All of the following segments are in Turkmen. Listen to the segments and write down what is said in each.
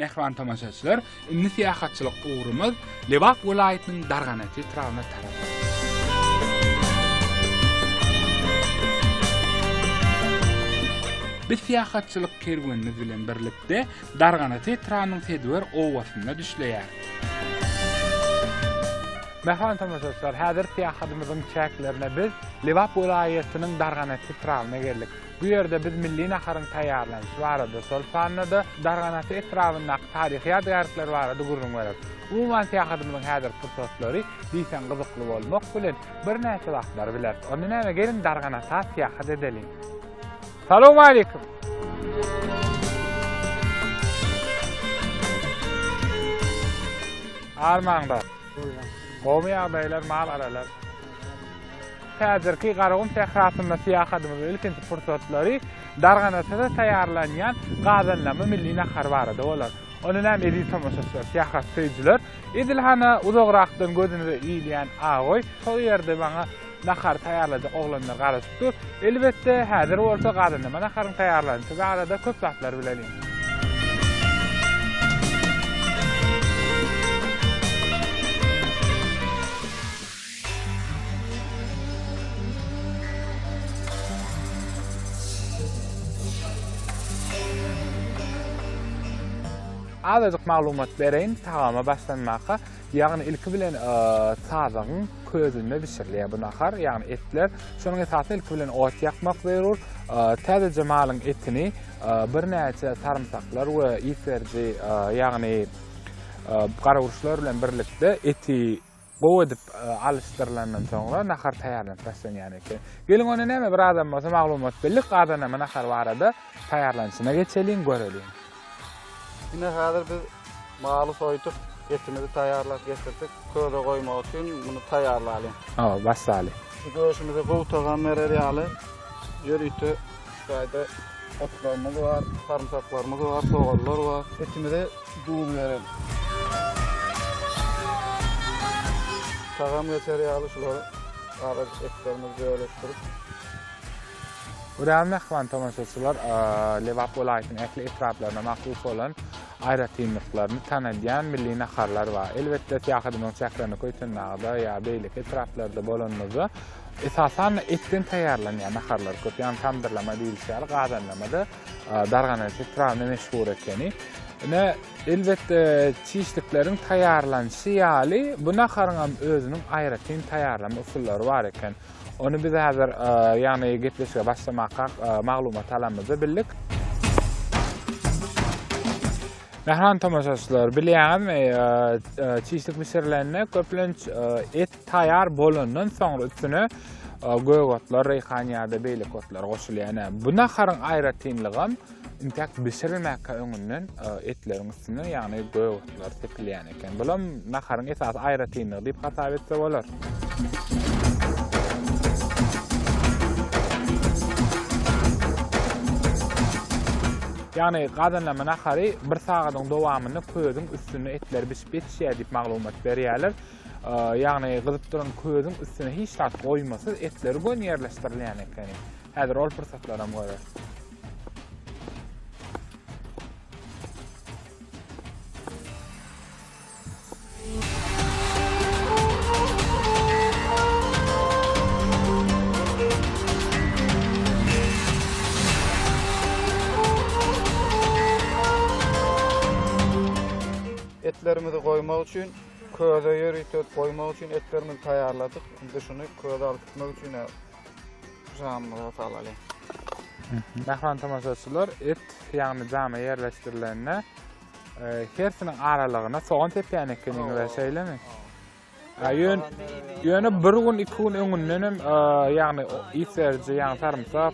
Mähriban tomaşaçylar, indi syýahatçylyk ugrumyz Lebap welaýatynyň Darganat etrabyna tarap. Biz syýahatçylyk kerwenimiz bilen birlikde Darganat etrabynyň Sedwer obasyna düşleýäris. Mähriban tomaşaçylar, häzir syýahadymyzyň çäklerinde biz Lebap welaýatynyň Darganat etrabyna geldik. Bu ýerde biz milli naharyň taýýarlanyşy barada, şol sanda-da Darganasy etrabyndaky taryhy ýadygärlikler barada gürrüň bereris. Umuman, syýahatymyzyň häzirki pursatlary diýseň gyzykly bolmak bilen, birnäçe zatlary bileris. Onda näme, geliň, Darganasa syýahat edeliň. Salowmaleýkim! Armangyz. Gowumy ýagdaýlar, mal-aralar? Häzirki Garagum sährasynda syýahatymyzyň ilkinji pursatlary Darganata-da taýýarlanýan gazanlama milli nahary barada bolar. Ony näm eziz tomaşaçylar, syýahat söýüjiler, edil hana uzagrakdan gözüňize ilýän aoý, şol ýerde maňa nahary taýýarlajak oglanlar garaşyp dur. Elbetde, häzir bolsa gazanlama naharyň taýýarlanyşy barada köp zatlar bileliň. Azajyk maglumat bereýin, tagama başlanmaka, ýagny ilki bilen sazagyň közünde bişirilýär bu nahar, ýagny etler. Şonuň esasynda ilki bilen ot ýakmak zerur. Täzeje malyň etini birnäçe sarymsaklar we ys beriji, ýagny garagurslar bilen birlikde eti Gowy edip alyşdyrylandan soňra nahar taýýarlanyp başlanýan eken. Geliň onda näme bir adam bolsa maglumat bildik, gazanama nahar barada taýýarlanyşyna geçeliň, göreliň. Ine häzir biz maly soýduk, etimizi taýýarlap getirdik, köze goýmak üçin muny taýýarlalyň. Hawa, başlalyň. Şu göşümize gowy tagam berer ýaly ýörite Şu taýda otlarymyz bar, sarymsaklarymyz bar, soganlar bar. Etimize duz bereli. Tagam geçer ýaly şulary garyş etlerimizi bölüşdirip. Örän mähriban tomaşaçylar, Lebap welaýatynyň ähli etraplaryna mahsus bolan aýratynlyklaryny tanadýan milli naharlar bar. Elbetde, syýahadymyzyň çäklerini köýtendagyda ýa beýleki etraplarda bolanymyzda, Esasan etden taýýarlanýan naharlar köp, ýagny tamdyrlama diýilişi ýaly gazanlamada dargan eti trawna meşhur ekeni. Ine, elbetde çişlikleriň taýýarlanyşy ýaly bu naharyň hem özüniň aýratyn taýýarlama usullary bar eken. Ony biz häzir, ýagny gepleşige başlamakak maglumat alamyzda bildik. Mähriban tomaşaçylar, bilýäňizmi, çişlik bişirilende köplenç et Taýar bolandan soňra üstüne gök otlar, reýhan ýa-da beýleki otlar goşulýar. Bu naharyň aýratynlygam intäk bişirilmäkä öňünden etleriň üstüne, ýagny gök otlar sepilýän eken. Bulam naharyň esasy aýratynlygy diýip hasap etse bolar. Ýagny gazanlama nahary bir sagadyň dowamynda közüň üstünde etler bişip ýetişýär diýip maglumat berýärler. ýagny gyzyp duran közüň üstüne hiç zat goýmasyz etleri göni ýerleşdirilýän ekeni. Häzir ol pursatlaram göreris. Etlerimizi goýmak üçin Köze ýörite goýmak üçin etlerimizi taýýarladyk. Indi şuny köze alyp gitmek üçin jamymyza salaly. Mähriban tomaşaçylar, et ýagny jama ýerleşdirilende e, hersiniň aralygyna sogan sepýän ekeniňiz, şeýlemi? Ýöne bir gün, iki gün öňünden hem e, ýagny isberiji, ýagny sarymsak,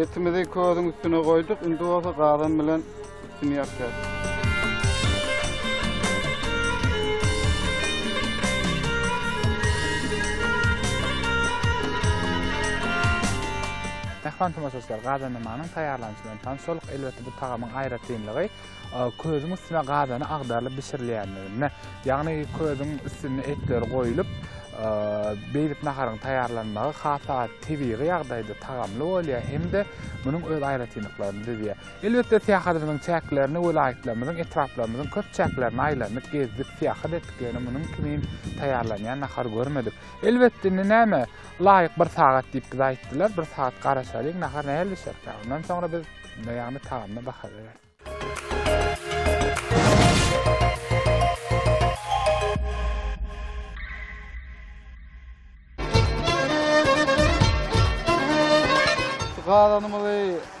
Etimizi közüň üstüne goýduk. Indi bolsa gazan bilen üstüni ýakýas. Mähriban tomaşaçylar, gazanlamanyň taýýarlanyşyna Tansolyk elbetde bu tagamyň aýratynlygy közüň üstüne gazana agdarylyp bişirilýänliginde. Ýagny közüň üstünde etler goýlup, beýdip naharyň taýýarlanmagy hasa tebigy ýagdaýda tagamly bolýar hem-de munuň öz aýratynlyklaryny düzýär. Elbetde syýahatymyzyň çäklerini welaýatlarymyzyň, etraplarymyzyň köp çäklerini aýlandyk, gezdik, syýahat etdik, ýöne munuň kimin taýýarlanýan nahar görmedik. Elbetde, indi näme, laýyk bir sagat diýip bize aýtdylar, bir sagat garaşalyň, nahar nähili bişerkä, ondan soňra biz, ýagny tagamyna baha bereli. Şu gazanymyzy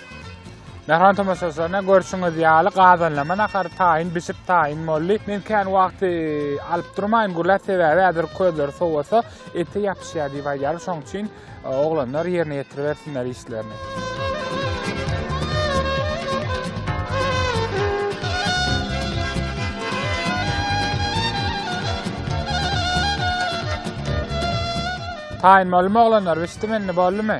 Naharyň tomaşaçylaryna görşüňiz ýaly gazanlama nahary taýyn bişip taýyn boldy. Men kän wagt alyp durmaýyn gürläp sebäbi häzir közleri sowasa ete ýapyşýar diýip aýdýarlar. Şoň üçin oglanlar ýerine ýetiribersinler işlerini. Taýyn boldumy oglanlar, bişdimi indi, boldumy?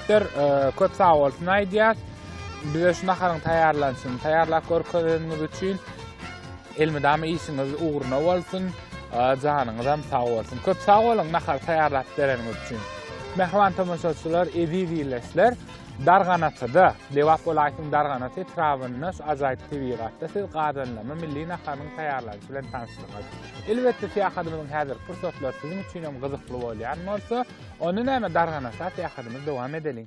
Doktor e, köp sag bolsun aýdýas. Bize şu naharyň taýýarlanşyny taýýarlap görkezeniňiz üçin elmydama işiňiz ugruna bolsun. E, janyňyz hem sag bolsun. Köp sag boluň nahar taýýarlap bereniňiz üçin. Mähriban tomaşaçylar, eziz ýerleşler, Darganatyda, Lebap welaýatynyň Darganaty etrabynda şu ajaýyp tebigatda siz gazanlama milli naharynyň taýýarlanyşy bilen tanşdyňyz. Elbetde syýahadymyzyň häzirki pursatlary siziň üçin hem gyzykly bolýan bolsa, onda näme darganasa syýahadymyzy dowam edeliň.